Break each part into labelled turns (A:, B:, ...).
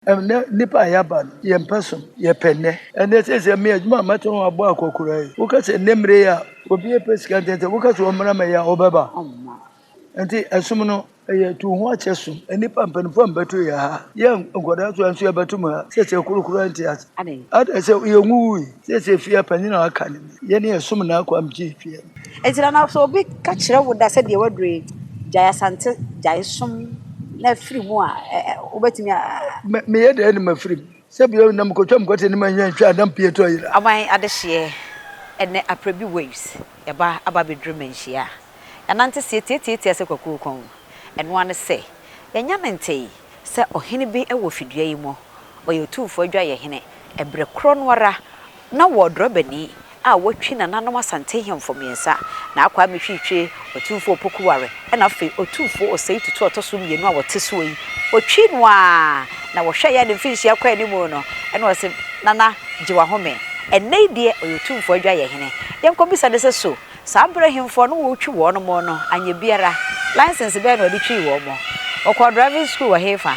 A: Ɛnnɛ nnipa a yɛaba no, yɛn pɛ so, yɛpɛ nnɛ. Ɛnnɛ seesei me adwuma a mɛtɔn no abɔ akɔkoraa yi, woka sɛ nnɛ mmere yi a obi repɛ sika ntɛntɛm, woka sɛ ɔmmra mmɛyɛ a, ɔbɛba? Ɛnti ɛsom no, ɛyɛ tu ho akyɛ som. Nnipa mpanyinfoɔ ammɛto yɛn ha, yɛn nkwadaa nso anso yɛbɛto mo ha, seesei koro koraa nte ase. Adɛn? Adɛn sɛ yɛnwuwui? Seesei fie a panyin a aka no ni. Yɛn yɛ som na akɔ am gye twe. Enti na na sɛ obi
B: ka kyerɛ wo da sɛ deɛ waduro yi gyae asante gyae som na firi mu a wobɛtumi a. Meyɛ
A: dɛn ne mafiri mu sɛ bio na mekɔtwa mekɔte ne manyɛ ntwa a na mpie tɔ yera. Aban adehyeɛ
B: ɛnɛ aprɛ bi waves ɛba aba bɛduru manhyia a yɛnante seɛ tiatiatia sɛ kwakuo kɔn ɛno ara ne sɛ yɛnya ne ntee sɛ ɔhene bi wɔ fidua yi mu ɔyɛ otumfoɔ adwayɛhene ɛberɛ korɔ no ara Na wɔ drɔbani a watwi nananom Asante hemfo mmiɛnsa, na akwaa Mehwitwe, Otumfoɔ Opoku Ware, ɛna afei Otumfoɔ Osei Tutu a ɔtɔ so mmienu a wɔte soɔ yi, wɔtwi no ara na wɔhwɛeɛ a ne mfirinhyia kɔ anim no, ɛna wɔse, Nana, gye w'ahome. Ɛnnɛ yi deɛ ɔyɛ Otumfoɔ Adwayɛhene. Yɛnkɔbisa no sɛ so saa berɛ hemfo a na wɔretwi wɔnom no anyɛ biara, license bɛn na ɔde twii wɔn? Ɔkɔɔ driving school wɔ hefa?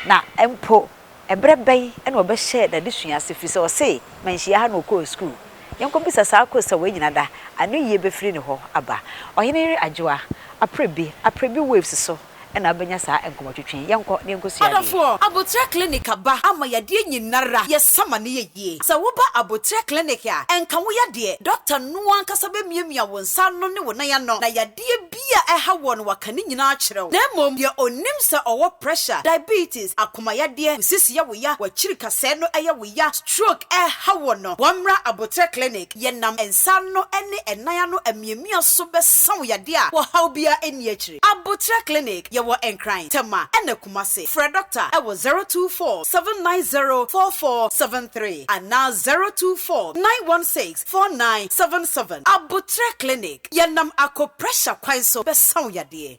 B: Na mpo. Ɛberɛ bɛn na ɔbɛhyɛɛ n'adesua ase firi sɛ ɔse manhyia ha na ɔkɔɔ sukuu? Yɛnkɔbisa saa kosa wei nyina da ano yie bɛfiri ne hɔ aba. Ɔhene yere Adwoa, Aprebi, Aprebi Waves so na wobɛnya saa nkɔmmɔtwetwe yi. Yɛnkɔ na yɛnkɔsua adeɛ. Adɔfoɔ, Aboterɛ
C: Clinic aba ama yadeɛ nyinara yɛsa ma no yɛ yie. Sɛ woba Aboterɛ Clinic a, ɛnka wo yadeɛ, dɔkta no ankasa bɛmiamia wo nsa ano ne wo nan ano na yadeɛ biribi a ɛha wɔn waka ne nyinaa akyerɛ wo, na mmom deɛ ɔnim sɛ ɔwɔ pressure, diabetes, akomayadeɛ, nsis yɛ wo ya, wakyiri kasɛɛ no yɛ wo ya, stroke ɛreha wo no, wɔmmra aboterɛ clinic, yɛnam nsa ano ne nan ano amiamia so bɛsa wo yadeɛ a ɔhaw biara nni akyire. Aboterɛ clinic, yɛwɔ Nkran, Tema ɛna Kumasi. Frɛ Doctor ɛwɔ zero two four seven nine zero four four seven three anaa zero two four nine one six Four nine seven seven Aboterɛ Clinic, Yɛnam akɔ pressure kwan so bɛsa wo yadeɛ.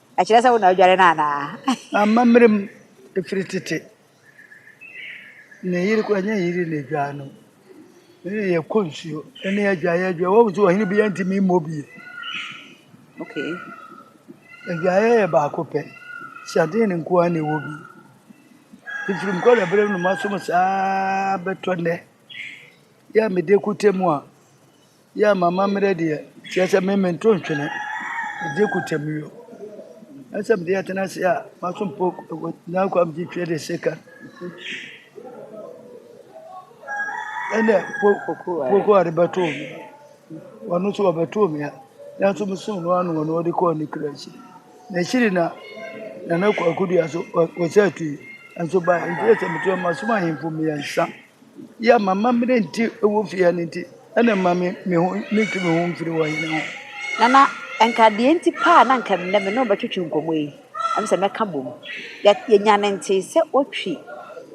B: Ɛkyerɛ sɛ wo na wodware no anaa? Amammerɛ mu,
A: ɛfiri tete, ne yere kɔ ɛnyɛ yere na ɛdwaa no. Ne yɛ kɔ nsuo, ɛne adwa yɛ adwa. Wɔn nso ɔhene bi ntumi mmɔ bie.
B: Okay.
A: Adwaeɛ yɛ baako pɛ. Hyɛden no nko ara na ɛwɔ bi. Ɛfiri nkɔla berɛ mu na masom saa bɛtɔ nnɛ. Yɛ a mede kɔtɛ mu a. Yeah m'amammerɛ deɛ kyerɛ sɛ me mento ntwene gye kutɛmio na sɛ mede ɛtena ase a masompo na kwa mgye twe de seka ɛnɛ poko ade bɛtoo me wɔno nso wɔbɛtoo me a nanso mesom no ano wɔno wɔde kɔɔ ne kura akyi na akyiri na nana kwakodua so wɔsɛ atui nso ba nkyerɛ sɛ meto masom ahemfo mmiɛnsa Yɛ ma m'amene nti wɔ fie ha no nti, ɛna ɛma me me ho metwe me ho mfiri wɔ hene ho. Nana,
B: nka deɛ nti paa na nka nnɛ me ne wo bɛtwetwe nkɔmmɔ yi, ɛm sɛ mɛka bom. Yɛ yɛnya ne ntee sɛ wɔtwi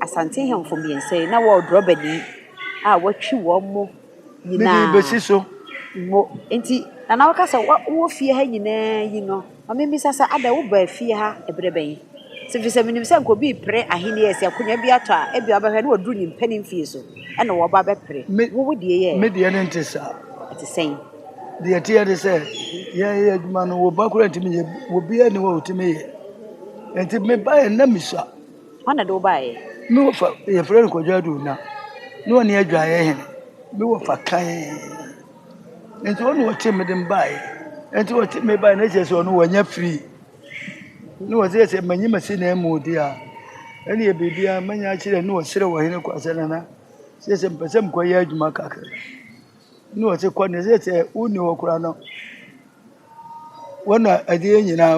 B: Asante hemfo mmiɛnsa yi na wɔɔ drɔbani a wɔatwi wɔn mo. nyinaa. Mede besi so.
A: Mo. Enti,
B: Nana woka sɛ wowɔ fie ha nyinaa yi no, ma mimmisa sɛ adɛn wobaa fie ha bere bɛn? Efisɛ sɛ minim sɛ anka obi repere ahenni a sɛ akonnwa bi atɔ a ebia ɔbɛhwɛ na waduru nyimpa no mfie so na waba abɛpere. Wo wo deɛ yɛ ɛ? Me deɛ no nte saa.
A: Ɛte sɛn?
B: Deɛ ɛteɛ ne
A: sɛ, yɛyɛ adwuma no, wo ba koraa ntumi nyɛ bi, obiara nni hɔ a otumi yɛ. Enti mebaeɛ no na misua. Hwan na de wo
B: baeɛ? Me wɔfa, yɛfrɛ
A: no Kwadwo Ado Ona, na ɔne adwaeɛ hene, me wɔfa kann. Nti ɔne ɔte me de baeɛ, nti ɔte me baeɛ na kyerɛ sɛ ɔno wanya firi. Na ɔsɛ sɛ manyi masi na mu de a, ɛneɛ biribiara mɛnya akyerɛ na ɔserɛ ɔhene kɔ asɛ nana, sɛ sɛ mpɛ sɛ mekɔyɛ adwuma kakra. Ne ɔse kɔ ne sɛ sɛ wonni hɔ koraa no wɔn na ɛdeɛ nyinaa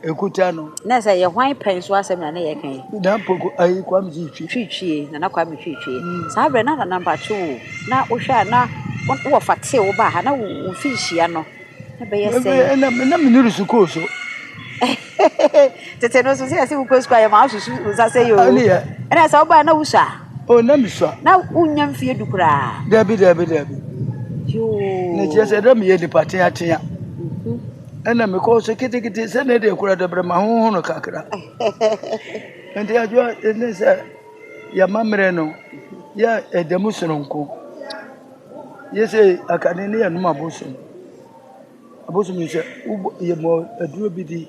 A: ɛkuta no. na sɛ yɛ hwan pɛn
B: so asɛm na ne yɛ kan yi. na mpoko ayi
A: kwame twitwi. twitwie nana kwame
B: twitwie mm. saa berɛ na nana mpato o na wohwɛ a na wɔ fa tee wo ba ha na wo fi nhyia no Ɛbɛyɛ sɛ. Ɛbɛyɛ na na me nuru sukuu
A: so.
B: Tete no so sɛ yɛsɛ wokɔ sukuu a yɛma wosusu nsa sɛ yɛ o. Ɛne yɛ. Ɛna sɛ wobaa na wusua. O na mesua.
A: Na wonnya mfie du
B: koraa. Dabi dabi dabi.
A: Yoo.
B: Na kyerɛ sɛ
A: na meyɛ nipa teatea. Mhm. Ɛna mekɔ so kitikiti sɛ na ɛde kura dɛbrɛ ma honho no kakra. Nti adwoa ne sɛ yɛma mmerɛ no yɛ ɛda mu sononko. Yɛ sɛ akane ne yɛnom abosom abosom sɛ wobɔ yɛ mɔ aduro bi di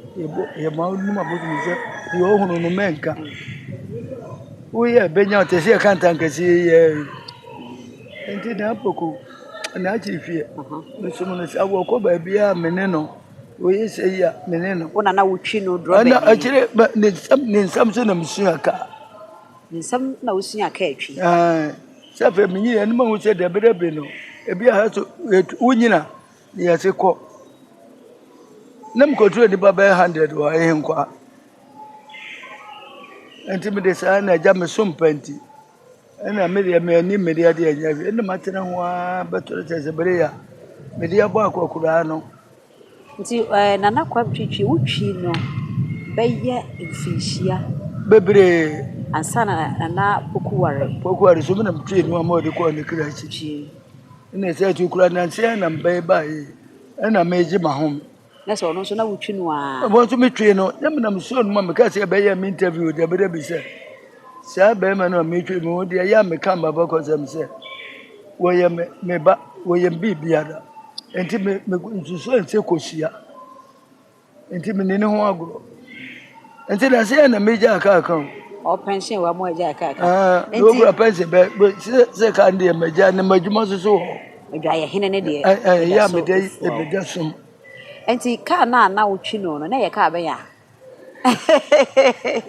A: yɛ mɔ nom abosom sɛ deɛ ɔhunu no mɛnka woyɛ bɛnya ɔte sɛ yɛka ntankɛse yɛ nti na apoko na akyi fie mesom no sɛ awɔ kɔ baabi a mene no woyɛ sɛ yi a mene no wona na wotwi no
B: dorɔ bɛbi akyire
A: ne nsɛm so na mesua ka ne nsɛm
B: na wosua ka atwi Sɛ afei
A: menye yɛn anim ahu sɛ dabidabi no, ebi aha so wonyina ne yɛse kɔ. Na mekɔturo nnipa bɛyɛ hundred wɔ ɛhe nkwa. Nti mede saa na agya me so mpa nti. Ɛna me deɛ me ani me deɛ deɛ nyɛ hwɛ. Ɛna matena ho ara bɛtɔre sɛ sɛ bere yɛ a mede abɔ akɔkoraa no. Nti
B: ɛɛ Nana Kwame Twitwi wo twi no bɛyɛ mfinhyia. Bebree.
A: Ansa na
B: Nana Poku ware. Poku ware so mi na metwi no
A: ama ɔde kɔɔ ne kra akyi. Twi. Ɛna ɛsɛ ɛtu kura nansi ɛna mbɛyɛ baayi ɛna megye ma ho. Na sɛ ɔno nso na
B: wotwi no a. Ɛwɔ nso metwi no
A: na mi na mesɔɔ no ma meka sɛ ɛbɛyɛ me interview dabi dabi sɛ. Saa barima no a metwa mu no deɛ ɛyɛ a meka m'abakɔsɛm sɛ wɔyɛ me me ba, wɔyɛ me biribiara. Nti me me nsusuɛ ne sɛ kosua. Nti menni ne ho agorɔ. Nti na sɛ yɛ na megyaa kaa ka o. Ɔ pension
B: wa mo agyaa kaa ka. Ah, na Nti okura pɛnse
A: bɛ bɛ sɛ sɛ kaa no deɛ magyaa ne m'adwuma so so hɔ. adwaeɛ
B: hene no deɛ Ɛ- ɛ, Ɛyɛ ɛda a so mede fua
A: o. ɛbɛda som. Nti
B: kaa no a na wotwi no no, na ɛyɛ kaa bɛn a?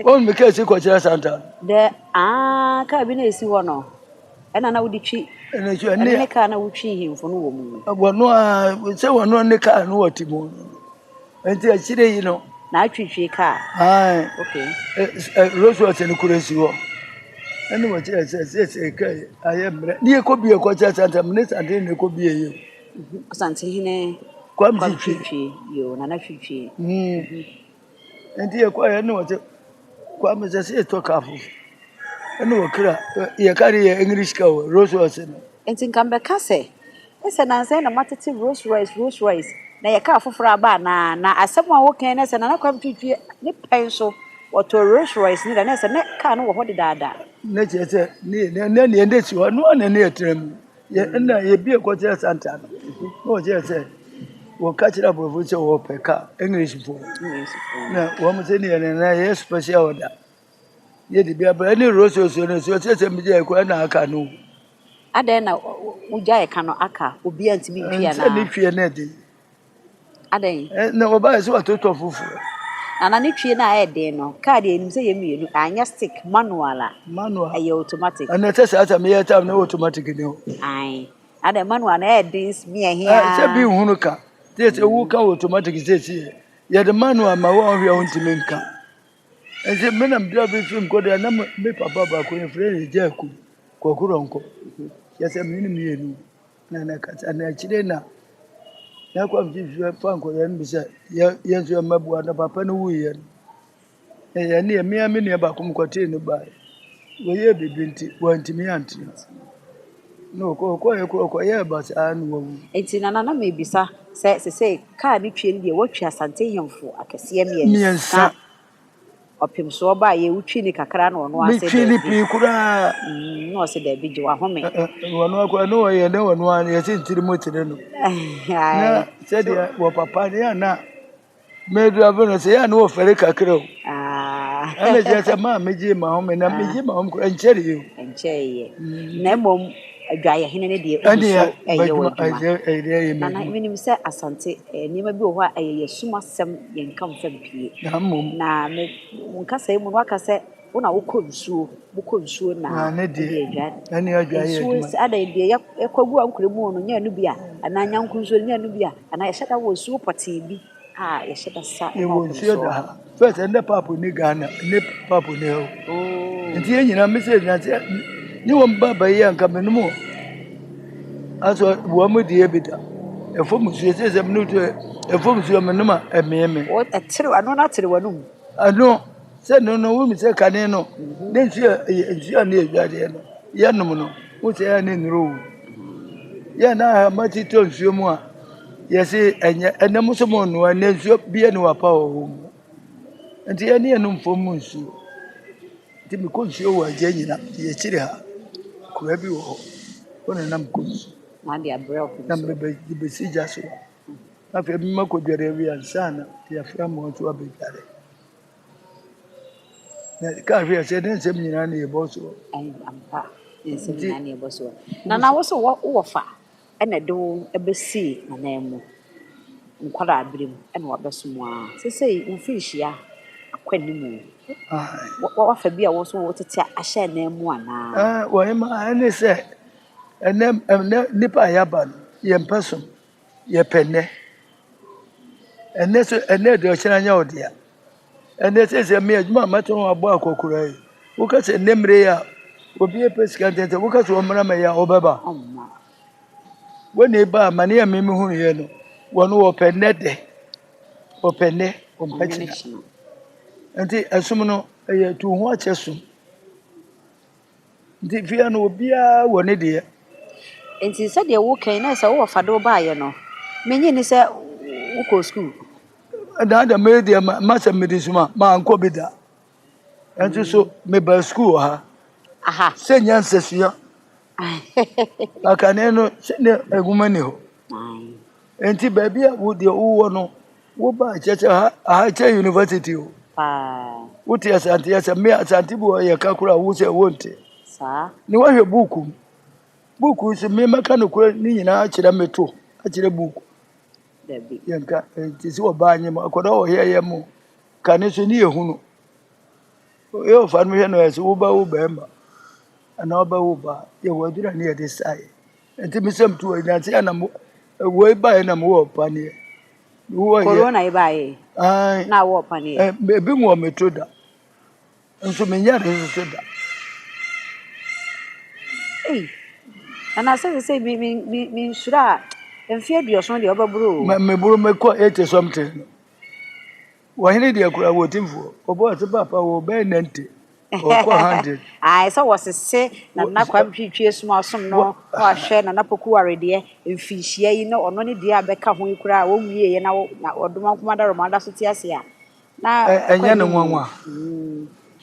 A: Wɔn mi kaa si kɔ kyerɛ santa. Dɛ aa
B: kaa bi na esi hɔ no ɛna na wode twi ɛne ne kaa
A: na wotwi hemfo
B: no wɔ mu. Wɔno a
A: sɛ wɔno ne kaa no wɔ ti mu nti akyire yi no. Na atwitwi kaa.
B: Ae. Okay.
A: Rolls Royce no kura si hɔ. Ɛne wɔkyerɛ sɛ sɛ sɛ kaa ayɛ mmerɛ. Ne yɛkɔ bie kɔ kyerɛ santa mu ne santa ne kɔ bie yɛ. Ɔsantehene
B: Kwame Twitwie.
A: Yoo, Nana Twitwie. Mm. Nti yɛ kɔ yɛ ne wɔte Kwame sɛ sɛ yɛtɔ kaa fofo. Ɛne wɔkra yɛ kaa de yɛ English kaa wɔ Rolls Royce no. Nti nka mbɛka
B: sɛ ɛsɛ nansɛ na matete Rolls Royce Rolls Royce na yɛ kaa foforɔ aba anaa na asɛm a wokan ne sɛ Nana Kwame Twitwie ne pɛn so wɔtɔɔ Rolls Royce ne da ne sɛ ne kaa no wɔ hɔ dedaada. Ne kyerɛ sɛ
A: ne ne ne ne si hɔ no na ne yɛ tena mu. Yɛ nna yɛbi ɛkɔkyerɛ Santa no na ɔkyerɛ sɛ wɔka kyerɛ aborɔfo sɛ wɔpɛ ka englishfoɔ na wɔn sɛ ne yɛn na yɛ special order yɛde bi abra ne rososuo no so ɔkyerɛ sɛ megye ɛkora na aka no adɛn na
B: wogya ɛka no aka obi a ntumi ntwi anaa ne twiɛ no ɛde
A: Adɛn?
B: Eh, na wɔbaeɛ sɛ
A: wɔatoto afoforɔ. Nana ne twie
B: no a ɛyɛ den no, kaa deɛ ɛnim sɛ yɛ mmienu, anyɛ stick, manual a. Manual. Ɛyɛ automatic. Ɛna ɛsɛ saa sɛ meyɛ
A: tam na automatic ne hɔ. Ae. Adɛn
B: manual no ɛyɛ den mia hia. Eh, sɛ bi nhunu ka.
A: Sɛ sɛ wo ka automatic sɛ si yɛ. Yɛde manual ma wo a ɔhwɛ a wontumi nka. Ɛsɛ me na mdra bi fi nkɔ deɛ na me papa baako yɛ frɛ yɛ gya aku. Kwakurɔnkɔ. Yɛ sɛ me ne mmienu. Na na ɛkasa na akyire na na kɔmfye hwehwɛ fa nkɔyɛ no bi sɛ yɛ yɛn nso yɛ mmaboa na papa no wuiɛ no na yɛn ne yɛn mmea me nua baako mu kɔtee no baeɛ wɔyɛɛ biribi nti wɔantumi antena na ɔkɔ ɔkɔeɛ kɔ ɔkɔyɛɛ ba saa na wawu Enti nana na mebisa
B: sɛ sesei kaa ne twe no deɛ watwi Asante hemfo akɛseɛ mmiɛnsa mmiɛnsa Ɔpem so ɔbaa yɛ wo twi ne kakra na ɔno ase dɛ bi. Me twi ne pii koraa.
A: Mm, na ɔse dɛ
B: bi gye wa home. Ɔno akora ne
A: ɔyɛ ne ɔno a yɛ se ntiri mo tene no. Na sɛ deɛ wɔ papa ne yɛ na me drive no sɛ yɛ ne wɔ fɛre kakra o. Ɛna kyerɛ sɛ maa
B: me
A: gye ma home na me gye ma home koraa
B: nkyɛre
A: yɛ o. Nkyɛre yɛ.
B: Na
A: mmom. Adwayɛhene
B: no deɛ ɔgu so ɛyɛ wɔ adwuma.
A: Nana menim sɛ
B: Asante nneɛma bi wɔ hɔ a ɛyɛ yɛsum asɛm yɛn nka mfa mpie. Na me nkasa yi mu no waka sɛ wo na wokɔ nsuo mokɔ nsuo na ɛdeɛ adwa
A: nsuo sɛ
B: adɛn deɛ
A: yɛkɔ
B: gu ankorɛ mu no nyɛ no bi a anaa nyanko nsuo no nyɛ no bi a anaa yɛhyɛ da wɔ nsuo pɔtee bi Yɛwɔ nsuo da ha.
A: First ɛnɛ papo nni Ghana, ɛnɛ papo nni ha o. Nti yɛn nyinaa me sɛ na sɛ ne wɔn ba ba yi a nka menom o. Aso wɔn mo deɛ bi da. Ɛfam nsuo sɛ sɛ mene to ɛfam nsuo menom a ɛmee me. Ɛtere ano na
B: tere w'anum. Ɛno
A: sɛ no no wonim sɛ kane no ne nsuo a ɛyɛ nsuo a ne yɛ dwadeɛ no yɛnom no wo sɛ ɛyɛ ne nnuro o. Yɛn na ama ti tɔ nsuo mu a Yɛse ɛnyɛ ɛnɛ mo nso monnoa ɛnɛ nsuo bie ne wapa wɔ hɔ mu nti yɛne yɛnom fam mu nsuo nti mekɔ nsuo wɔ agya nyina yɛkyiri ha kura bi wɔ hɔ hɔ na nam kɔ nsuo
B: na mebɛsi
A: gya so na afei mema kɔdware awi ansa na yɛafra mmoa nso abɛdware na ka hwɛ sɛ ne nsɛm nyinaa ne yɛbɔ soɔ
B: nti na na wo so wɔ fa Ɛna ɛde wo bɛsi n'ananmu. Nkwadaa-berɛ mu na wabɛso mu ara. Seesei wo mfirinhyia akɔ anim o. Wa, wafa bi a wo nso wotete ahyɛ ananmu anaa? Ah, wɔhema, ɛne
A: sɛ, ɛnɛ, ɛnɛ nipa a yɛaba no, yɛmpɛ som, yɛpɛ nnɛ. Ɛnɛ so, ɛnɛ deɛ ɔkyena nyɛ ɔdea. Ɛnɛ sɛsɛ me adwuma a mɛtɔn abɔ akɔkora yi woka sɛ ne mmere a obi pɛ sika ntɛntɛ woka sɛ ɔmmra mɛyɛ a ɔbɛba wɔne ba ma ne ɛme mehu yɛ no wɔn wɔpɛ nnɛ dɛ wɔpɛ nnɛ wɔmpɛ kyena nti ɛsom no ɛyɛ tu ho akyɛ som Nti fie no obiara wɔ ne deɛ. Nti
B: sɛdeɛ woka yi na sɛ wowɔ fa de wo baayɛ no menye ni sɛ wokɔɔ sukuu. Ɛdaa deɛ
A: meyɛ deɛ ma sɛ mede suma mankɔ bi da ɛnso so mebaa sukuu wɔ ha aha sɛ
B: nya nsɛsua
A: akane no sɛdeɛ ɛguma ni hɔ nti baabi a wo deɛ wowɔ no Wo ba kyɛ sɛ ha aha kyɛ university o. Paa. Wo te asante yasa me asante bu yɛ ka kura wo sɛ wo nte. Saa. Ne
B: wahwɛ book
A: mu. Book nso me mɛka no kura ne nyinaa akyerɛ me to akyerɛ book. Dabi.
B: Yɛn ka te
A: sɛ ɔbaa nyɛ mu akɔda wɔ hɛ yɛ mu ka ne so ne yɛ hunu. Yɛ ɔfa no hwɛ no yɛ sɛ wo ba wo bɛrima anaa ɔbɛ wo ba yɛ wɔ adura ne yɛ de sae. Enti me sɛ metu hɔ nyansa yɛ na mo wɔ ebaeɛ na mo wɔ paneɛ. Wɔ yɛ. Corona
B: ebaeɛ. Ayi. Na wɔ paneɛ. Ebi mu wɔ me to
A: da. Nso me nyɛ ne nso da.
B: Ei. Ɛna sɛ sɛ sɛ mi mi mi mi nsura a mfe aduoson deɛ ɔbɛboro o. Me boro me kɔ
A: eighty something. Wɔhene deɛ koraa wɔ timfoɔ. Ɔbɔ ɔse papa wɔ bɛyɛ nante ɔkɔ hundred. Ae sɛ wɔsese
B: Nana Kwame Twitwi Asuasom no na wahwɛ Nana Pokuware deɛ mfinhyia yi na ɔno ne deɛ a bɛka ho yi koraa a wɔnwieɛ na ɔdoma nko ara dɔrɔmaa da so te ase a na ɛkɔ anim o.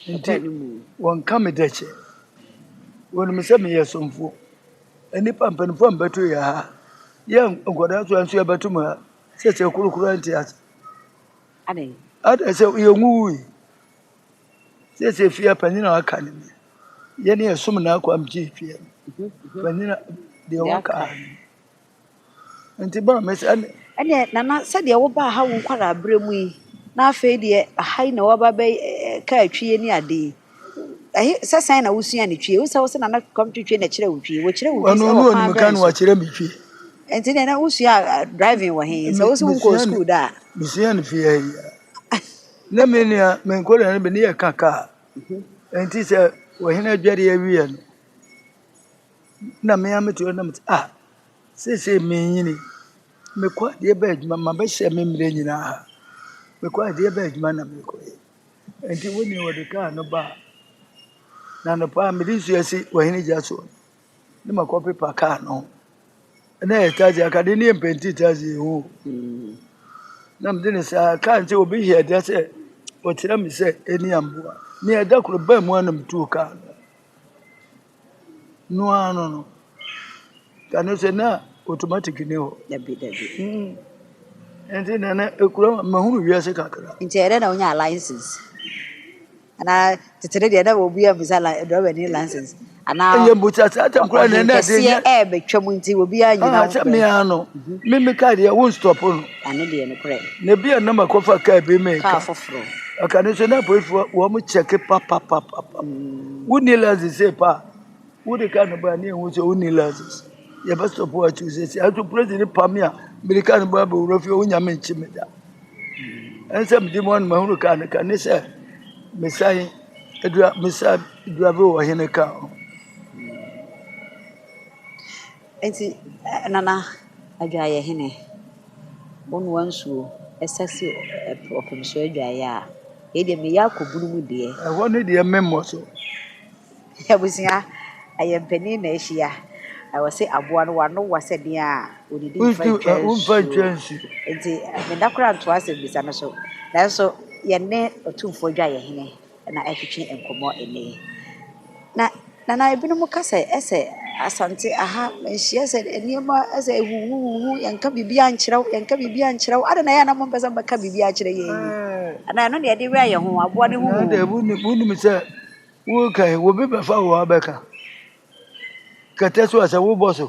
B: Ɛkɔ
A: anim o. Wɔnka me dɛkyɛ. Wɔnim sɛ meyɛ somfoɔ. Nnipa mpanimfoɔ a mebɛto yɛ ha. Yɛ nkwadaa so a nso yɛbɛto mu ha. Sese kurukuru ɛnte
B: ase. Adɛn? Adɛn sɛ
A: yɛn wuwui. Sese fia panyin a waka ne mi. Yɛn yɛ som na akɔ amgye fia. Panyin a deɛ waka ne. Nti ba mɛ sɛ ɛne. Ɛne nana
B: sɛdeɛ woba ha wo nkwadaa berɛ mu yi na afei deɛ aha yi na waba bɛ kaa twie ne ade yi Ɛhe sɛ sɛn na wosua ne twi? Wosɛ wo sɛ Nana Kɔmto twi na kyerɛ wo twi. Wɔkyerɛ wo twi sɛ wɔ kwan bɛn so?
A: Wɔkyerɛ me twi. Nti na na
B: wosua driving wɔ he? Sɛ wo sɛ wonkɔɔ school da a. Mesua no fie ha
A: yi. Na me nua me nkɔlaa no bi ne yɛ ka kaa. Nti sɛ wɔhene adware awie no na me a mete hɔ na mete ah sese menyini mekɔ adeɛ bɛ adwuma ma bɛhyɛ me mmerɛ nyinaa mekɔ adeɛ bɛ adwuma na mekɔ yɛ. Enti wo nea wɔde kaa no baa no anɔpa a mede nsu asi w'ahene gya so no, ne makɔpepa kaa no ho. Na ɛyɛ Thursday, anka de ne yɛ mpɛnti Thursday ho. Na mede ne saa kaa nti obi hia gya sɛ ɔkyerɛ me sɛ ɛni amboa. Nea ɛda koro baa mu a na metuo kaa no. no ara no no, kane sɛ na automatic ni hɔ. Dabi dabi.
B: Mm. Nti
A: na na ekura ma hunu wiase kakra. Nti ɛdɛ na wonya
B: license. Ana tete ne deɛ na obi a bisa la driver ni license. Ana Ɛyɛ mbusa saa
A: tam kura na na de. Ɔhenkɛseɛ ɛɛbɛtwa mu nti
B: obi a nyina. Ah, sɛ me ano.
A: Mhm. Me me car deɛ wo stop no.
B: Ano deɛ nokorɛ. Na ebia na makɔfa
A: car bi meka. Car foforɔ.
B: Aka no nso na
A: apolisifoɔ wɔn kyɛke papapapa. Mm. Wonni license sei pa a wode car no baa ne ehu sɛ wonni license. Yɛbɛ stop wɔ akyi sɛ sɛ ato polisi ne pam a mede car no baa bɛwura fie wonya me nkye me da. Ɛnsɛ mede mu anoma hunu car no ka ne sɛ mesan adura mesan dura bi wɔ hene car ho.
B: Enti Nana Adwaeɛ Hene, wo noa nsuo sa si ɔpem so adwaeɛ a, yei deɛ meyɛ akɔ bunu mu deɛ. Ɛhɔ no deɛ memmɔ
A: so.
B: Abusua, ɛyɛ mpanin na ahyia. Ɛwɔ sɛ aboa no wano wa sɛ deɛ a ɔdidi mfa ntwa
A: nsuo. Enti
B: meda koraa ntoa asɛmmisa no so. Nanso yɛne Otumfoɔ Adwaeɛ Hene. na ɛretwetwe nkɔmmɔ nnɛ yi. Na Nana ebinom ka sɛ ɛsɛ Asante aha manhyia sɛ nneɛma ɛsɛ huhuhuhu yɛnka biribi ankyerɛ wo yɛnka biribi ankyerɛ wo adɛn na yɛn na mompɛ sɛ mobɛka biribi akyerɛ yɛn yi hmm. anaa ɛno na yɛde wura yɛn ho aboa ne huhuhu. wonim
A: sɛ woka yi wobi bɛfa wo abɛka kɛtɛ so a sɛ wobɔ so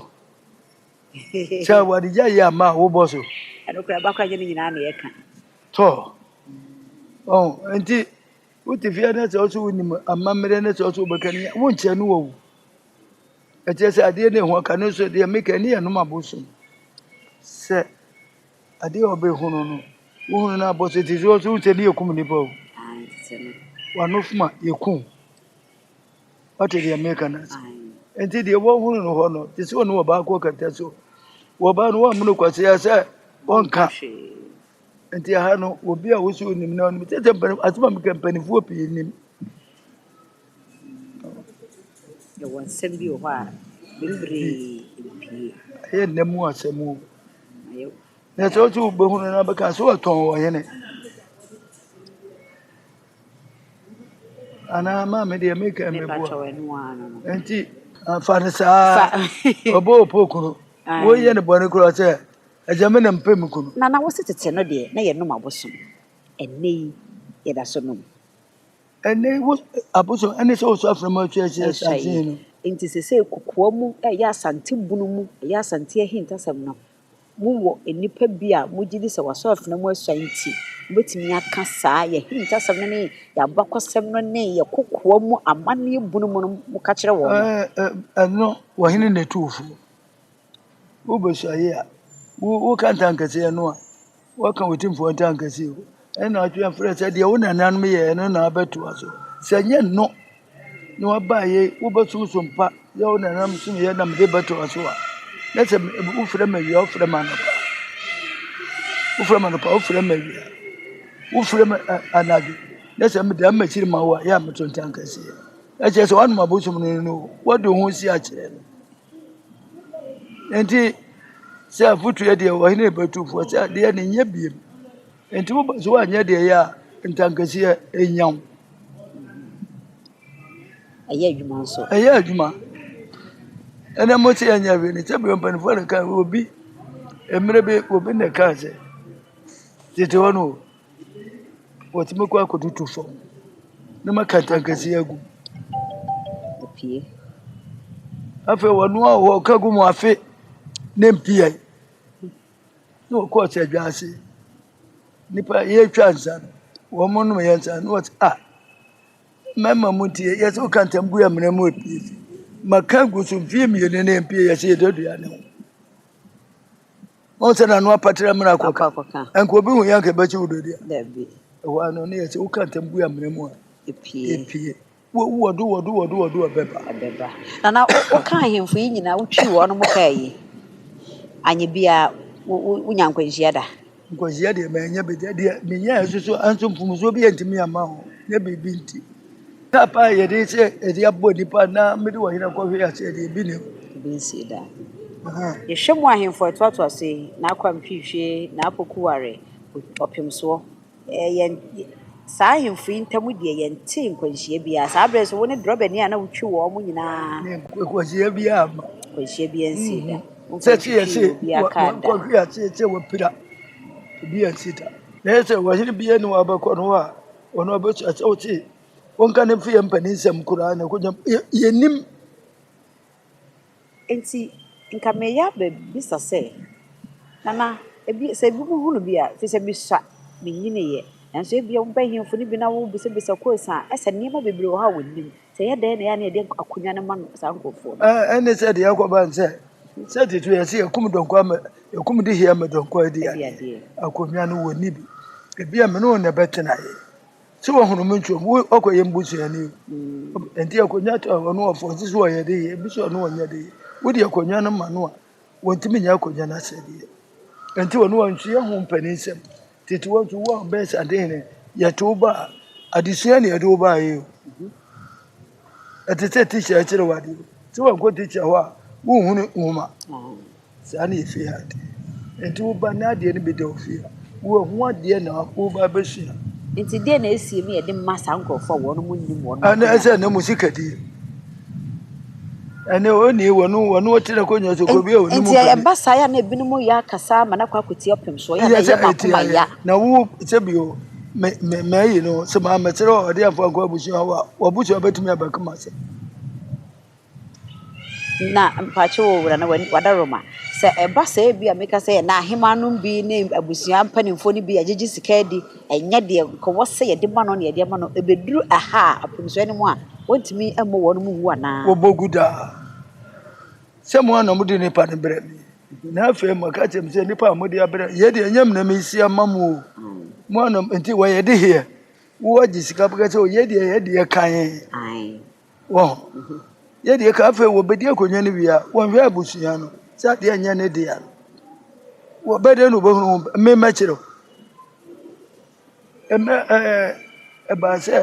A: sɛ wɔde gya yi ama a wobɔ so ɛno kora ɛba kora nyɛ
B: ne nyinaa na yɛka tɔ
A: Ɔho nti wote fie na sɛ ɔso wonim amammerɛ na sɛ ɔso wobɛka ne wonkyerɛ no wɔ wo ɛkyerɛ sɛ adeɛ ne ɛho aka no so deɛ meka ne yɛ nom abosom sɛ adeɛ a ɔbɛhono no wohunu no abɔ so te sɛ ɔso wo sɛ ne yɛkum nnipa o wano foma yɛkum wate deɛ meka no ase nti deɛ wɔhunu no hɔ no te sɛ ɔne ɔbaako kata so wɔbaa no wɔamono kwasea sɛ ɔnka Nti aha no obi a wosi onim na onim sɛ sɛ mpani asɛm a meka mpanifoɔ pii nim.
B: Yɛwɔ nsɛm bi wɔ hɔ a bebree mpie. Ɛyɛ nna mu
A: asɛm o. Na sɛ wosi wobɛhunu na bɛka sɛ wɔtɔn wɔ hene. Anaa maame deɛ meka mmeboa. Nti fa no saa ɔbɔ ɔpɔ kunu. Woyɛ no bɔne koraa sɛ Agya, me na mepɛ me kunu. Nana, wo se tete no deɛ
B: na yɛnom abosom. Ɛnnɛ yi, yɛda so nom. Ɛnnɛ yi,
A: wo abosom ne sɛ woso aframa atwi ahyɛ asase yi no. Enti seesei kokoa
B: mu, ɛyɛ Asante bunu mu, ɛyɛ Asante ahintasɛm no, mowɔ nnipa bi a mogye di sɛ wɔasɔ afena mu asua nti, mobɛtumi aka saa yɛn ahintasɛm no ne yɛn abakɔsɛm no ne yɛn kokoa mu amanneɛ bunu mu no, moka kyerɛ wɔn. Ɛɛ, ɛɛ, ɛno,
A: wɔhene na ɛtu wo fo. Wo bosua ye a, wo ka ntankɛseɛ no a, woaka wo timfoɔ ntankɛseɛ o. Ɛne na atwe afrɛ sɛ deɛ wo nananom yɛɛ no na abɛtoa so. Sɛ nyɛ no na waba ye, wobɛsom so mpa yɛ wo nananom som yɛ na mede bɛtoa so a. Na sɛ wofrɛ me awia, wofrɛ me anɔpa, wofrɛ me anɔpa, wofrɛ me awia, wofrɛ me anadwo, na sɛ meda m'akyiri ma wo a, yɛ a meto ntankɛseɛ. Ɛkyerɛ sɛ woanom abosom no no, wode wo ho si akyerɛ no. Enti sɛ afotu yɛ deɛ wɔ he na ɛbɛtu fo? Ɔse adeɛ no nyɛ biom. Enti wo ba so wanyɛ deɛ ɛyɛ a ntankasia nya wo.
B: Ɛyɛ adwuma nso. Ɛyɛ adwuma.
A: Ɛnɛ mo se ɛnyɛ hwee no sɛ bia mpanyinfoɔ na ɛka obi mmerɛ bi obi na ɛka sɛ tete hɔ no o. Wɔtumi kɔ akɔtutu fam na wɔaka kɛtɛnkɛse agu mu.
B: Apue.
A: Afei wɔnoa wɔ hɔ a, wɔka gu mu afe ne mpeae na wɔkɔ ɔsɛ dwa ase. Nnipa yɛretwa nsa no, wɔnom yɛn nsa na wɔse ah mmarima mo nti yɛ sɛ woka ntam gu amena mu apue. Maka agu so mfeɛ mmienu na ɛmpue yɛse yɛdɔ aduane ho. ɔn sɛ n'ano apatra mmara akɔka nka obi hu yɛ nka ɛbɛkye wo dɔdi a ɛhɔ
B: a no ne yɛ
A: sɛ woka ntam gu amena mu a ɛpie
B: wɔdo
A: wɔdo wɔdo wɔdo ɛbɛba na na
B: woka ahemfo yi nyinaa wotwi wɔn mo kaa yi anyɛ biara wonya nkwanhyia da Nkwasea deɛ manya
A: bi da deɛ meyɛɛ nso so anso mfomsoɔ bi antumi amma ho ne biribi nti tap a yɛde sɛ yɛde abɔ nnipa na mede wɔ hena kɔhwe ase deɛ bi ne bi nsie da
B: yɛhwɛ mu ahemfo ɛtoatoa so yi n'akwam hwehwie n'apoku ware ɔpem soɔ yɛn saa ahemfo yi ntam deɛ yɛnte nkwanhyia biara saa berɛ so wo ne drɔbani a na wotwi wɔn nyinaa nkwanhyia
A: biara nkwanhyia biara nsie
B: da
A: Wobɛtwetwe obi aka da. Nanso ɔhene bia ni wa bɛkɔ no a ɔno ɔbɛtu asɛ wote wonka ne mfe yɛ mpanin nsɛm koraa na ɛkɔgyam yɛnim
B: nti nka meyɛ abɛbisa sɛ nana ebi sɛ ebi mu hunu bi a fi sɛ bisa menyiniyɛ nanso ebia wobɛhemfo no bi na wobisabisa kɔsa ɛsɛ nneɛma bebree wɔ hɔ a wɔnim Sɛ ɛyɛ dɛn na ɛyɛ a na yɛde akonya no ma no
A: saa nkurɔfoɔ no? Ah, ɛne sɛ deɛ ɛkɔba ne sɛ sɛ tete yɛ sɛ yɛkum dɔnkɔ ama yɛkum de hia ma dɔnkɔ adi Ɛde adeɛ adeɛ. akonnwa no wɔnni bi ebi a me ne wo na ɛbɛtenaeɛ sɛ wɔhunu me nkyerɛm wo ɔkɔ yɛ mbusuani o ɛnti akonnwa to a ɔno ɔfɔ nso so ɔyɛ de yɛ ebi so ɔno ɔnyɛ de yɛ wode akonnwa no ma no a wɔntumi nyɛ akonnwa no asɛdeɛ. Ɛnti wɔne wɔn nso yɛ ho mpaninsɛm. Tete hɔ nso wo a wobɛyɛ saa den no, yɛte wo ba a, adesua na yɛde wo baeɛ o. Ɛte sɛ tikya akyerɛ wo adeɛ. Sɛ wankɔ tikya hɔ a, wonhunu nwoma. Saa na yɛfie ha te. Ɛnti wo ba na adeɛ no bi da wo fie a, wo a ho adeɛ na wo ba bɛsua. Nti deɛ na
B: ɛsie no yɛde ma saa nkurɔfoɔ a wɔn mo nnim wɔn. Anaasɛ na mo sika
A: die. Enti ɛyɛ ba saa yɛ a na
B: ebinom yɛ akasa ama no akɔ akɔtie ɔpem so.
A: Ɛyɛ a na ɛyɛ mo akoma ya. Na mpakyɛw
B: o Wura na w'adaroma. Sɛ ɛba saa ebia meka sɛ na ahemmaa nom bi ne abusua mpanimfoɔ no bi agyegye sika adi Ɛnyɛ deɛ nka wɔ sɛ yɛde ma no na yɛde ma no, ɛbɛduru ɛha a, apomsoɛ no mu a, wɔntumi mmɔ wɔn mu wu anaa? Wɔbɔ gu daa
A: sɛ mo a na mode nnipa no brɛ me, na afei moka kyerɛ me sɛ nnipa a mode abrɛ yɛ deɛ ɛnyɛ me na mesi ama mo o, mo a na nti wɔyɛ de heɛ, wo agye sika bɛka sɛ o yɛ deɛ yɛ deɛ kan.
B: Wɔ hɔ.
A: Yɛ deɛ ka afei wɔbɛdi akonnwa no wie a wɔnhwɛ abusua no sɛ adeɛ nyɛ ne dea no wɔbɛdɛ no wɔbɛhunu ho me mɛkyerɛ wo ɛmɛ ɛɛ ɛbaa sɛ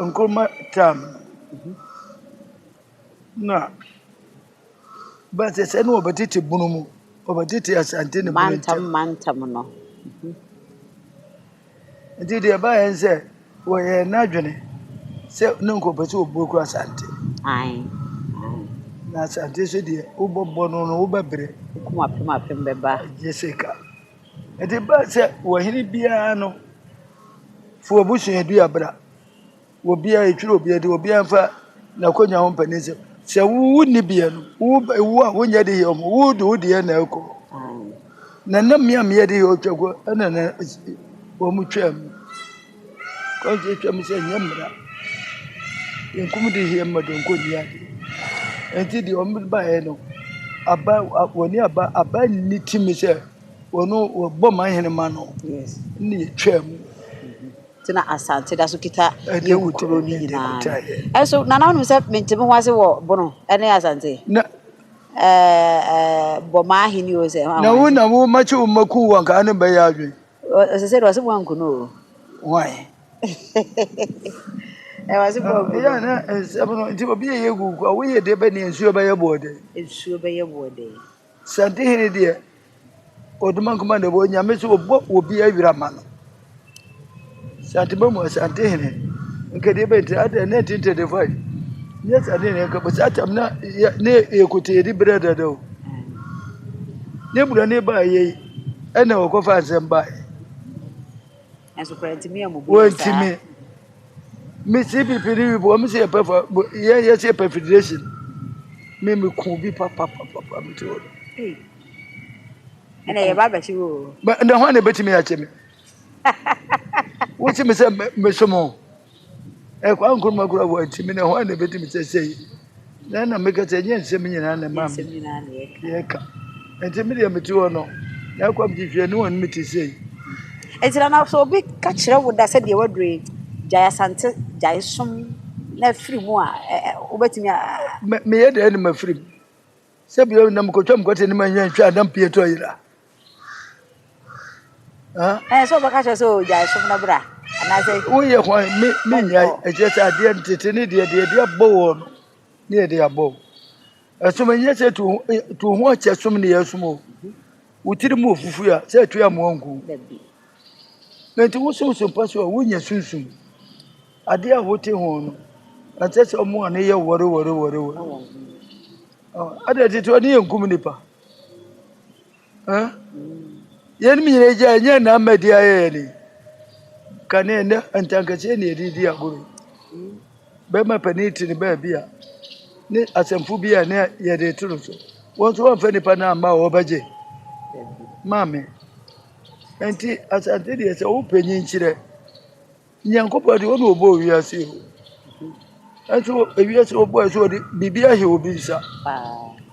A: nkuruma tam na But sɛ ne wɔbɛtete bunu mu, wɔbɛtete Asante ne bunu ntam. Mantam mantam no. Nti deɛ ɛbaeɛ sɛ wɔyɛ n'adwene sɛ ne nkɔpɛ sɛ ɔbuo kura Asante. Ae. Na Asante so deɛ wobɔbɔ no no wobɛbrɛ. Wokum apem apem
B: bɛba. Gye sika.
A: Nti ba sɛ wɔhene biara no fo abusuaduabra. Obiara etwere obiara de obiara mfa n'akonya ho mpɛ ne nsɛm. Sɛ wonni bea no, wo a wonyɛ de yɛ ɔmo, wo de wo deɛ na ɛkɔ. Na na mmea mmea de yɛ ɔtwa kɔ ɛna na wɔn twa mu. Kɔnti twa mu sɛ nyɛ mmara. Nkum de yɛ mma donko nni ade. Nti deɛ wɔn baeɛ no, aba wɔne aba aba nni timi sɛ wɔn wɔbɔ ma hene ma no. Yes. Ne yɛ
B: twa mu.
A: tena
B: asante da so kita Yehu kuro no nyinaa no. Ɛnso, nana wonim sɛ mente me ho ase wɔ Bono ne asante? Na, bɔ maa hene o sɛ. Na wo na wo makye wo
A: maku wo anka ano bɛyɛ adwene. Ɔsɛ sɛ ɔsɛ mo
B: anku no o. Why?
A: Ɛwɔ
B: ase bɔ anku. Ɛyɛ na
A: nsɛm no nti obi yɛ yɛ gu kwa woyɛ deɛ bɛ ne nsuo bɛyɛ boɔ dɛ. Nsuo bɛyɛ boɔ dɛ. Asante hene deɛ ɔdoma nkoma na ɛwɔ nyame sɛ ɔbɔ obi awira ma no santema mu asante hene nkadeɛ bɛnti adɛ ne tinte de fai ne asante hene nka bɛsɛ atam na ne ɛkote ɛdi berɛ dada o ne bura ne ba yei ɛna ɔkɔfa nsɛm baeɛ
B: Nanso kura ntumi
A: yɛ mo bu yɛ saa. Wɔntumi. Me CPP ni bi wɔn si yɛ pɛ fa yɛ yɛ si yɛ pɛ federation. Me me kun bi pa pa pa pa pa me ti wɔ. Ɛna yɛ
B: ba bɛkyi wo. Mɛ ɛna hɔn na ebetumi
A: akyɛ mi. Wosi mi sɛ me so mo. Ɛ Kwame Nkrumah kura hɔ nti me ne hwan na ɛbɛdi me sɛ sei na na meka sɛ ɛnyɛ nsɛm nyinaa na ɛma me yɛka nti me deɛ mete hɔ no na akɔ mete hwɛ ne wɔn mete sei nti na na
B: sɛ obi ka kyerɛ wo da sɛ deɛ wadure gyae asante gyae som na afiri mu a wobɛtumi a meyɛ
A: deɛ ne mafiri mu Sɛ bi na mekɔ twam kɔte ne ma nyɛ ntwa a na mpie tɔ yera.
B: Ɛɛ sɛ ɔbɛka kyerɛ sɛ ɔgyae som no bra anaasɛ. Woyɛ hwan me
A: me nyae ɛkyerɛ sɛ adeɛ ntete ne deɛ deɛ deɛ abɔ wɔ no ne yɛ deɛ abɔ. Ɛsom nyɛ sɛ tu tu ho akyɛ som ne yɛ som o. Wotiri mu ofufu a sɛ tu amoa nku. Na nti wosom som pa so a wonya sunsum. Ade a wote ho no, na kyerɛ sɛ wɔn ani yɛ wɔrewɔrewɔrewɔre. Adɛn nti nti wɔn ani yɛ nkum nipa? Yɛnum nyinaa gya ɛnyɛ nna mmɛdi ayɛ yɛ ni. Kane ɛnɛ ntankɛseɛ na yɛde di agorɔ. Bɛrima panin te ne baabi a ne asɛmfo bi a ne yɛde to no so. Wɔn nso wɔmfa nipa no amma a wɔbɛgye. Maame. Nti asante deɛ sɛ wopanyin kyerɛ Nyankopɔn de ɔna ɔbɔɔ wiase yi ɛnso wiase ɔbɔɔ ɛsɛ ɔde biribi ahyɛ obi nsa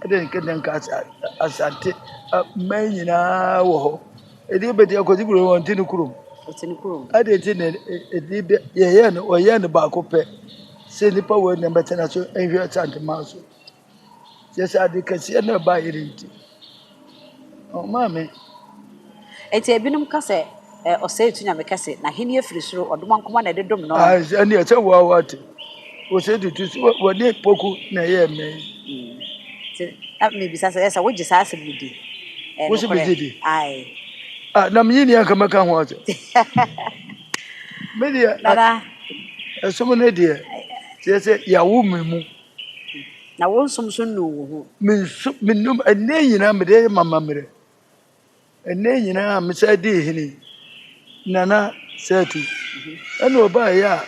A: ɛde nkɛdɛ nka asante mmaa nyinaa wɔ hɔ ɛde bɛti akɔsi kuro wɔn ti ne kurom ɛde ti ne ɛde bɛ yɛyɛ no ɔyɛ no baako pɛ sɛ nipa wɔ ɛna bɛtena so ɛnhwɛ asante maa so Kyerɛ sɛ ade kɛseɛ na ɛbaeɛ no nti, ɔmaa me.
B: Enti ebinom ka sɛ, Ɛ, ɔsɛe tu nyame kɛse, n'ahenni firi soro, ɔdom nko ara na ɛde dom no. Ah, ɛneɛ sɛ wo ara
A: woate. Ɔsɛe tu tu, wɔne poku na ɛyɛ mmɛ yi. Hmm. Nti,
B: na mebisa sɛ, ɛsɛ wogye saa asɛm no di? Ɛyɛ Wo sɛ nokorɛ? megye
A: di? Ae.
B: Ah, na menyi
A: ni anka mɛka ho asɛm. Me deɛ, Nana.
B: ɛsom
A: no deɛ, kyerɛ sɛ yɛawo me mu. Na
B: wo nso nso nnuu wo ho. Mensu menom
A: ɛnɛ nyinaa mede ma mammerɛ. Ɛnɛ nyinaa mesɛ dii hene nana sɛtu. Ɛna ɔbaa yɛ a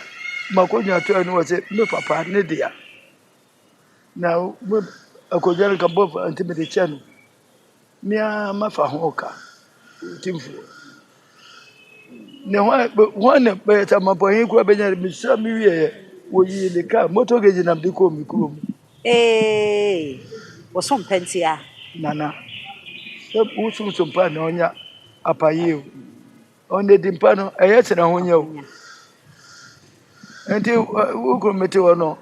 A: makɔdwa to ɛne wɔ sɛ me papa ne dea. Na akɔdwa no ka bɔfa nti mede kyɛ no. Me ara mɛfa ho ka, Otumfoɔ. Na hwan na bɛyɛ sɛ amapɔnee kura bɛnya de mesra me wieɛ wɔyii ne kaa motor gauge nam de kɔɔ me kurom. Ee,
B: wosom pɛ nti a. Nana,
A: sɛ wosom so mpo a na ɔnya apayeɛ o. Ɔnnadi mpa no, ɛyɛ sene ahonya o. Nti wo kunu mete hɔ no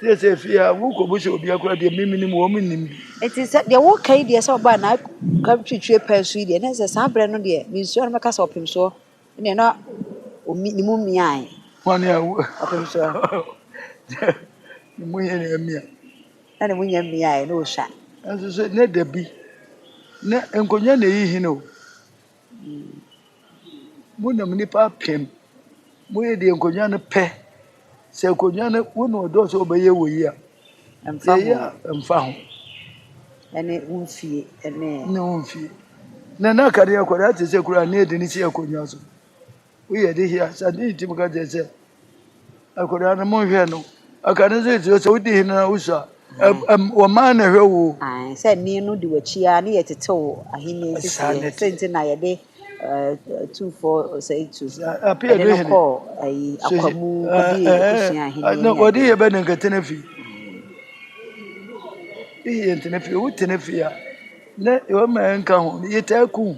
A: sɛ sɛ fie a wokɔbu sɛ obi akora deɛ memenim wɔ mennim bi. Nti sɛ deɛ
B: woka yi deɛ sɛ ɔbaa na ka twitwie paa so yi deɛ ne sɛ saa berɛ no deɛ mensua no mɛka sɛ ɔpem soɔ ne na ne mu mmiae. Wɔne a
A: ɔpem soɔ ne mu yɛ na mmia. Na ne mu nyɛ
B: mmiae na ɔsua. Nso sɛ ne da
A: bi na nkonnwa na ɛyi hene o. Monam nnipa apem moyɛ deɛ nkonnwa no pɛ. Sɛ nkonnwa no wo na ɔdɔɔ sɛ ɔbɛyɛ wɔ yi a, yɛyɛ a mfa ho. Ɛne
B: wo mfie ɛne. Ne wo mfie.
A: Na na akadeɛ akwadaa te sɛ kura ne yɛde ne si akonnwa so. Woyɛ de hia sa ne nti moka kyerɛ sɛ akwadaa no monhwɛ no aka no nso ɛti sɛ wodi hene na wosu a wɔmaa na ɛhwɛ wo sɛ ne no de
B: wakyi a ne yɛtete wo ahenni nseseɛ sɛ nti na yɛde tumfoɔ ɔsɛetu ɛde no kɔɔ
A: ayi akwamu
B: kɔdi abusua ahenni wɔde yɛ bɛ ne
A: nkɛtena fi yɛ ntena fi wotena fi a na ɛwɔ ma ɛnka ho yɛtaa kum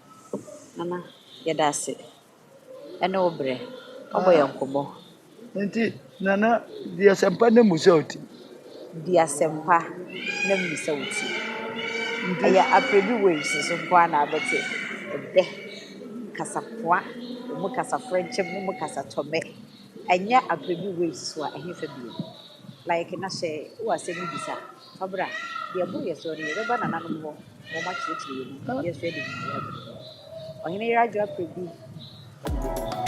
B: Nana yɛda ase ɛne wo brɛ wabɔ yɛn nkɔmɔ. Nti
A: Nana di asɛmpa na mu sɛ wo ti. Di
B: asɛmpa na mu sɛ wo ti. Ɛyɛ Aprebi waves so nko ara na abɛte ɛbɛ, kasapoa, emu kasa frɛnkyɛm, emu kasa tɔmɛ. Ɛnyɛ Aprebi waves so a ɛhefa bio? Like na hyɛ wo asɛm no bisa. Fa bra, deɛ ɛboro yɛn soɔ no, yɛbɛba nananom hɔ na wɔakyerɛkyerɛ yɛn mu, yɛn nso yɛde gyinaeɛ abrɛ wɔn. Ɔhene Yer Adwo Aprɛ Bi Ɔde Bɛdi Dwuma.